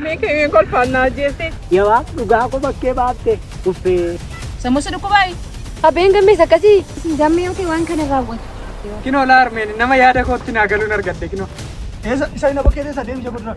Miikii kolfaan na ajjeeste. Yawaa dhugaa koo bakkee baatte uffee. Sammuu si dhukkubaayi. Abbeen gammees akkasii. Isin gammee yoo ta'e waan kana raawwatu. Kinoo laa harmeen nama yaada kootti naa galuun argadde kinoo. Isa isa ina bakkee teessa deemsa godhura.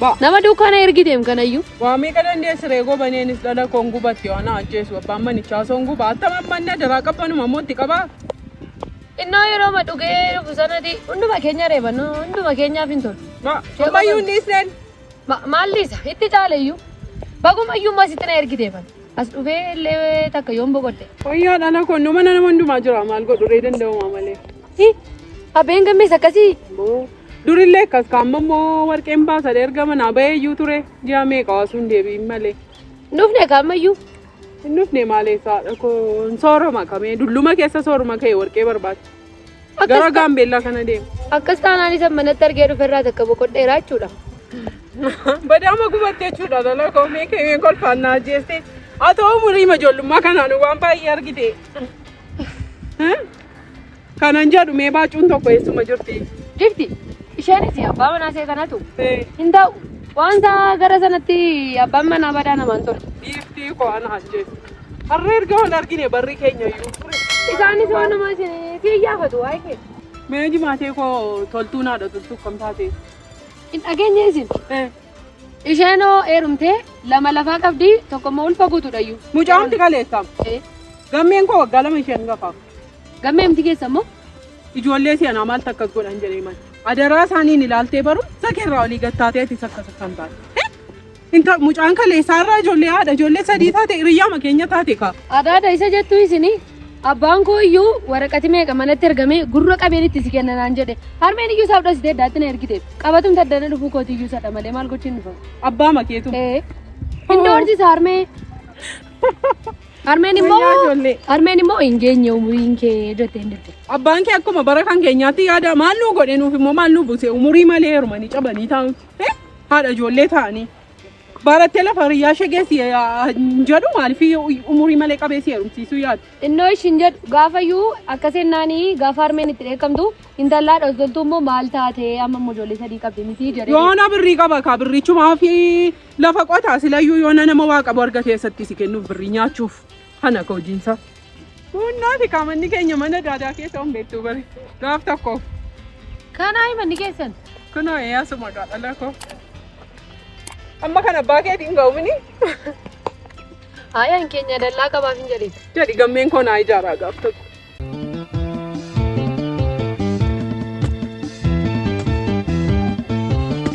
Ba. Nama dukkaana ergiteem kanayyu. Waa meeqa dandeessi ree gobaneenis dhala koon gubatti yoo na ajjeesu abbaan manichaa osoo hin guba attam amman na daraa qabbanuma ammoo itti qaba. Innoo yerooma dhugee dhufu sanati hunduma keenya reeba no hunduma keenyaaf hin tolu. Ba. Ammayyuu hin dhiisneen. Ma, maal dhiisa itti caaleyyuu baguma iyyuu immoo asitti na ergiteef ani as dhufee illee takka yoon boqodhe. Wayyaa dhala koon no mana nama hundumaa jira maal godhu ree danda'umaa malee. Hi, Abbeen gammees akkasii. Boo, Durillee akkas ka amma immoo warqeen baasan erga manaa bahee iyyuu ture ji'a meeqa waasuu hin deebi'in malee. Hin dhufne ka ammayyuu. Hin dhufne maalee saadha koo sooroma kamee dulluma keessa sooruma ka'e warqee barbaacha. Gara Akkas ta- gaambeellaa kana deema. akkas taanaan isa manatti argee dhufe irraa takka boqodheera jechuudha. Badaama gubatti jechuudha lola koo mee ka'ee kolfaan naa jeeste. Haa ta'u umurii ijoollummaa kanaan waan baay'ee argite. Kanan jedhu mee baacuun tokko eessuma jirti? Ifti isheenis abbaa manaa ishee kanatu Ee, hin ta'u. Waan isaa gara sanatti abbaan manaa badaa namaan ture. Giiftii koo ana ajjeesu. Har'a erga wal argine barri keenya iyyuu ture. Isaanis waan namaa isin si iyyaafatu waa'ee kee. Mee jimaatee koo toltuu naadha toltuu kam taate? Hin dhageenye isin. Ee, Isheenoo eerumtee lama lafaa qabdi tokko immoo ulfa guutuudhayyuu. Mucaamti kaleessaam. Eh, Gammeen koo waggaa lama isheen gafaaf. Gammee miti keessa immoo Ijoollee si'anaa maal takkas godhan jedhee mal. Adaraa isaaniin ilaaltee baruu sakeerraa olii gattaateetis akkas akkan taate. Eh, Inta mucaan kaleessaa irraa ijoollee haadha ijoollee sadii taate hiriyyaama keenya taate kaa. adaada isa jettuu isinii. Abbaan koo iyyuu waraqati meeqa manatti ergamee gurra qabeen itti si kenna naan jedhe. Harmeen iyyuu isaaf dhasitee iddaatti na ergite. Qabatum taddana dhufuu kooti iyyuu sadha malee maal gochiin dhufa. Abbaa makeetu. Ee. Hin doorsisa harmee. Harmeen immoo Wayyaa ijoollee. harmeen immoo hin geenye umuriin kee jette hin didde. Abbaan kee akkuma bara kan keenyaatti yaada maal nuu godhe nuuf immoo maal nuu buuse umurii malee heerumanii cabanii taa'utti. Eh? Haadha ijoollee taa'anii. Barattee lafa hiriyyaa ishee geessi hin jedhu maaliif umurii malee qabee si heerumsiisuu yaadu. Innoo ishin jedhu gaafayyuu akkas jennaani gaafa harmeen itti dheekkamtu intallaa dhosoltuu immoo maal taate amma immoo ijoollee sadii qabdi miti jedhee. Yoona birrii qaba kaa birrichumaa fi lafa qotaa silayyuu yoona nama waa qabu argate eessatti si kennuuf birrii nyaachuuf kana ka hojiinsaa. Kuunnaati kaa manni keenya mana daadaa keessa hin beektu bari. Gaaf tokko. Kanaayi manni keessan. Kunoo eeyyaasuu maqaa dhala koo. Amma kan abbaa keetii hin ga'umini. Haayaan keenya dallaa qabaaf hin jedhin. Jedhi gammeen koo naa ijaaraa gaaf tokko.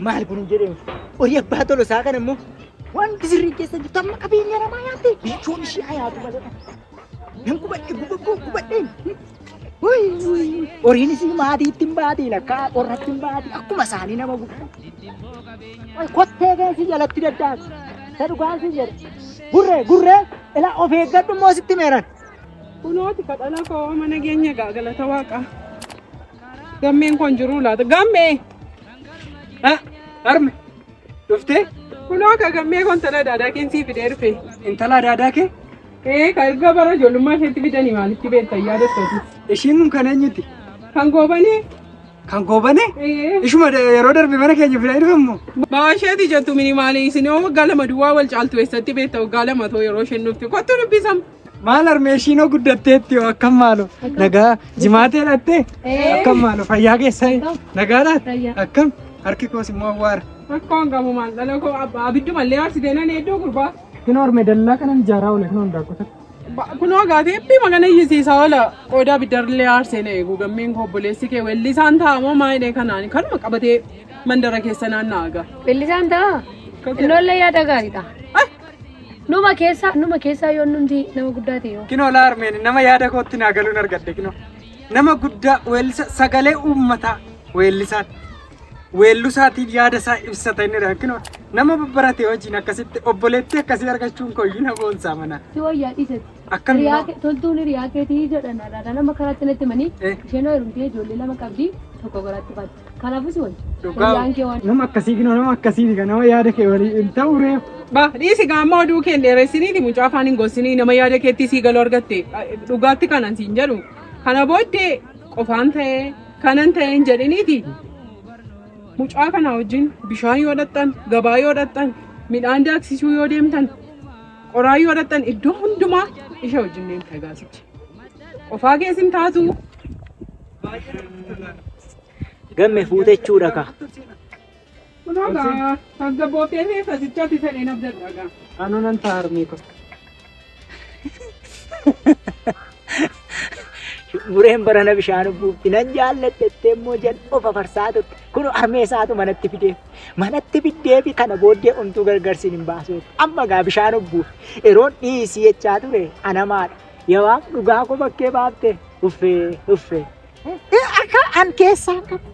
Maal kun hin jedhamu? Horii abbaa tolo isaa kana immoo wanti sirrii keessa jirtu amma qabeenya namaa nyaatte bichoon ishee hayaatu malee. Nan gubadhe gubadhe gubadheen. Horiin isii maatii ittiin baatiin akka qorra ittiin baatii akkuma isaanii nama guddaa. Kottee keessi jalatti daddaati. Isa dhugaan si jedhe. Gurree gurree ila of eeggadhu immoo sitti meeran. Kunooti kadhala koo mana keenya gaa galata waaqaa. Gammeen kun jiru laata? Gammee! Ah, Harme, dhuftee? Kunoo akka gammee kun tana daadaa keensii fidee dhufe. Intala daadaa kee? Ee ka erga bara ijoollummaa isheetti fidanii maalitti beekta yaadattu ati? Ishiin kun kan eenyuti? Kan goobanee? Kan goobane? Ee. Ishuma da- yeroo darbe mana keenya fidaa dhufammoo? Baasheeti jettu minimaali isin yoo waggaa lama duwwaa wal caaltu eessatti beekta waggaa lama too yeroo isheen dhufte kottu dubbisam. Maal harmee ishiin hoo guddatteetti hoo akkam maalo? Nagaa jimaatee dhattee? Akkam maalo fayyaa keessaa nagaadhaan? Akkam harki koos immoo awwaara. Rakkoon qabu maal dhala koo abba abiddu mallee arsitee nan hedduu gurbaa. Kunoo harmee dallaa kanan ijaaraa oole kunoo handaaqqoo takka. Kunoo gaatee eebbii magana iyyisiisaa oola qoodaa biddarrillee aarsee na eegu gammeen koo obboleessi kee weellisaan ta'a moo maayidhee kanaan kanuma qabatee mandara keessa naanna'aa gaa. Weellisaan ta'a. Innoollee yaada gaariidha. Numa keessaa numa keessaa yoo nuti nama guddaa ta'e yoo. Kinoo laa harmeen nama yaada kootti naa galuun argadde kinoo. Nama guddaa weellisa sagalee uummataa weellisaan. weellusaatiin yaada isaa ibsata inni jedhan kunoo nama babbarate hojiin akkasitti obboleettii akkasii argachuun koo iyyuu na boonsaa mana. Si wayyaa dhiisati. Akkam Hiriyaa immoo? kee- Toltuun hiriyaa keetii jedhan har'aadha nama karaatti natti himanii Eh. isheen heerumtee ijoollee lama qabdi tokko garaatti baatti. Kanaafuu si wayya. Dhugaa. Hiriyaan kee waan Nama akkasii kunoo nama akkasii miti nama yaada kee walii hin ta'u ree. Ba dhiisi gaamma oduu kee dheeressiniiti mucaa afaan hin gossinii nama yaada keetti sii galuu argatte dhugaatti kanan siin jedhu kana booddee qofaan ta'ee Kanan ta'een jedhiniiti mucaa kana wajjin bishaan yoo dhaqxan, gabaa yoo dhaqxan, midhaan daaksisuu yoo deemtan, qoraa yoo dhaqxan iddoo hundumaa isha wajjin deemta gaasicha. Qofaa kees hin taatu. Gamme fuutechuudha ka. Kunoo gaa tasgabbooftee fi sasichatti fedheen abdadha gaa. Anoo nan ta'a harmee ko. Bureen barana bishaan buufti nan jaalladhettee immoo jedhu of afarsaa turte. Kun harmee isaatu manatti fidee. Manatti fiddee fi kana booddee omtuu gargarsiin hin baasuuf. Amma gaa bishaan buuf. Yeroon dhiisii jechaa ture anamaadha. Yawaaf dhugaa koo bakkee baafte. Uffee uffee. Akka an keessaa qabu.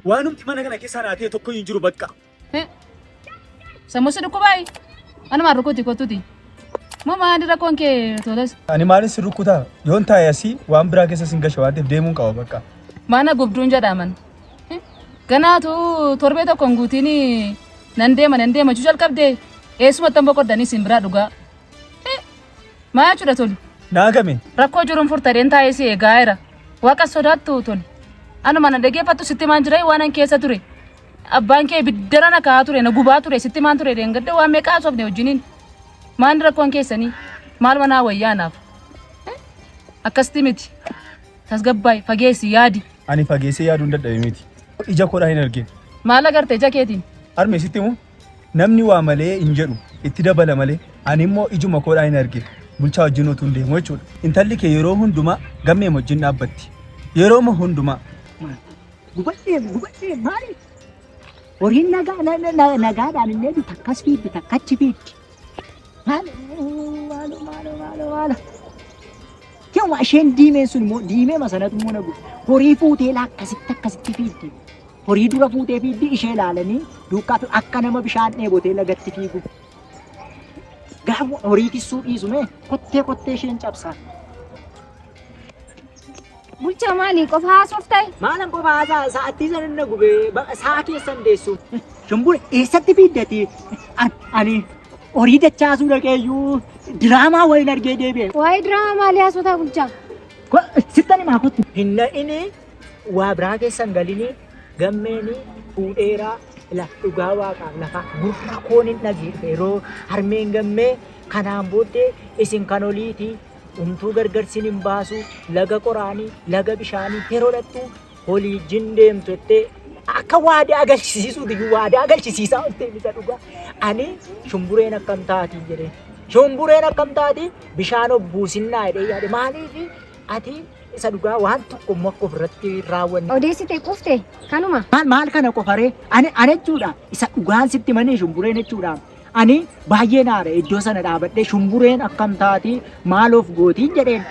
Waanumti mana kana keessaa naa ta'e tokko hin jiru bakka. Sammusi dhukkubaayi. Anumaan rukuti kottuti. Moo maali rakkoon kee toles? Ani maalin si rukkutaa? Yoon taa'e asii waan biraa keessa sin gasha waan ta'eef deemuun qaba bakka. Mana gubduun jedhaman. Ganaatu torbee tokko hin guutiin nan deema nan deema jechuu jalqabdee eessumatti hin boqoddanis hin biraa dhugaa. Maa jechuudha tolu? Naa game. Rakkoo jiruun furtadheen taa'ee si eegaa jira. Waaqa sodaattu tolu. Anuma na dhaggeeffattu sitti maan jira waan an keessa ture. Abbaan kee biddara na kaa'aa ture na gubaa ture sitti maan ture deengadda waan meeqaa haasofne wajjiniin. Maan rakkoon keessanii maal manaa wayyaa anaaf. Akkasitti miti. Tasgabbaay fageessi yaadi. Ani fageessee yaaduun dadhabe miti. Ija koodhaa hin argine. Maal agarte ija keetiin? Harmee sitti himu Namni waa malee hin jedhu itti dabala malee ani immoo ijuma koodhaan hin arge bulchaa wajjin otuun deemu jechuudha. Intalli kee yeroo hundumaa gammee wajjin dhaabbatti. Yerooma hundumaa. Gubadhee gubadhee maali? Horiin nagaa na- na- na- nagaadhaan illee bitakkas fiiddi takkachi fiiddi. Maalo maalo maalo maalo maalo. Yoo isheen diimeen sun immoo diimee masanatu immoo nagu horii fuutee laa akkasitti akkasitti fiiddi. Horii dura fuutee fiiddi ishee ilaalanii duukaa fi akka nama bishaan dheebotee lagatti fiigu. Gaafa horii tissuu dhiisu mee kottee kottee isheen cabsaa. Bulchaa maali qofa haasofte? Maalan qofa haasaa sa'attii san inni gubee baqa saa keessan deessu. Shumbura eessatti fiiddati? An- Ani horii dachaasuu dhaqeeyyuu diraamaa wayiin argee deebi'e. Waa'ee diraamaa maalii haasotaa bulchaa? Ko- Sittan himaa kottu. Hin na'ini waa biraa keessan galini gammeeni fuudheeraa ila dhugaa waaqaaf lafa gurra koon hin dhageeffe yeroo harmeen gammee kanaan booddee isin kan oliiti umtuu gargar sin hin baasu laga qoraani laga bishaanii yeroo dhattu holii jin deemtu jettee akka waadaa galchisiisuuti iyyuu waadaa galchisiisaa oltee misa dhugaa ani shumbureen akkam taati jedhee shumbureen akkam taati bishaan obbuusinnaa jedhee yaade maaliif ati isa dhugaa waan tokko immoo akka ofirratti raawwanne. Odeessite qufte kanuma. Maal maal kana qofaree ani ani jechuudha isa dhugaan sitti manii shumbureen jechuudha Ani baay'een aare iddoo sana dhaabadhee shumbureen akkam taati maal of gootiin jedheen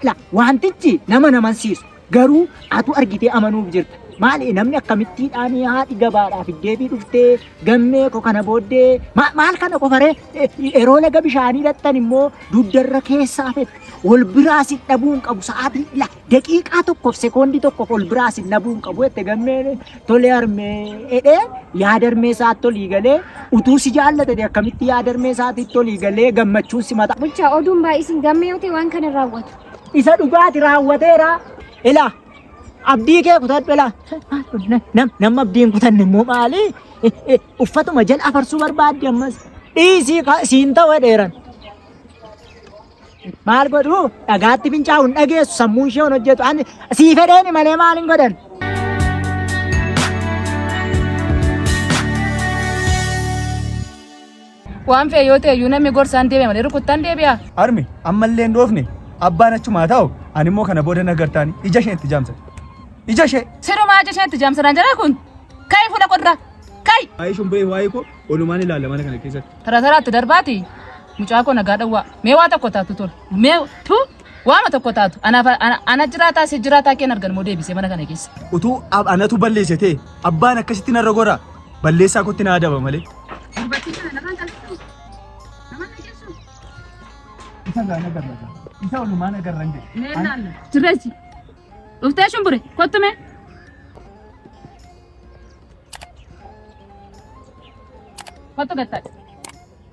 la wantichi nama namansiisu garuu atu argitee amanuuf jirta maali namni akkamittiidhaan haadhi gabaadhaaf iddeebii dhuftee gammee ko kana booddee ma- maal kana qofaree Eh, yeroo laga bishaanii lattan immoo dugdarra keessaa fette wal biraa si dhabuun qabu sa'aatii la Daqiiqaa tokkoof sekoondii tokkoof ol biraa sin dhabuu hin qabu jette gammeen tolee harmee jedhee yaada harmee isaatti olii galee utuu si jaallate ta'e akkamitti yaada harmee isaatti olii galee gammachuun si mata. Bulchaa oduun baay'isin gammee yoo ta'e waan kana raawwatu. Isa dhugaati raawwateera. Ilaa abdii kee kutadhu ilaa. Nam nam abdii hin kutanne immoo maali? Uffatuma jala afarsuu barbaaddi ammas. Dhiisii ka- siin ta'u dheeran. Maal godhu dhagaatti fincaa'u hin dhageessu sammuun ishee hin hojjetu ani sii fedheeni malee maal hin godhan. Waan fe'e yoo ta'e iyyuu namni gorsaan deebi'a malee rukuttaan deebi'a. Harmi ammallee hin dhoofne abbaan achumaa ta'u ani immoo kana booda na gartaani ija ishee itti jaamsa. Ija ishee. Sirumaa ija isheetti jaamsanaan jira kun. Ka'i fuula qodra. Ka'i. Waa'ee shumbiree waa'ee koo olumaan ilaalla mana kana keessatti. Tara taraatti darbaati. Mucaa koo nagaa dhawwaa. Mee waa tokko taatu tole. Mee tu waama tokko taatu. Anaaf ana, ana jiraataa si jiraataa keen argan moo deebisee mana kana keessa. Utuu ab- anatu balleesse ta'e abbaan akkasitti narra gora balleessaa kootti na adaba malee. Dubartii kana namaan qalbisu. Namaan qalbisu. Isa gaa na garra gaa. Isa olumaa na garra hin jedhu. Mee naanna. Jirreessi. Dhuftee shumbure kottu mee. Kottu gattaadha.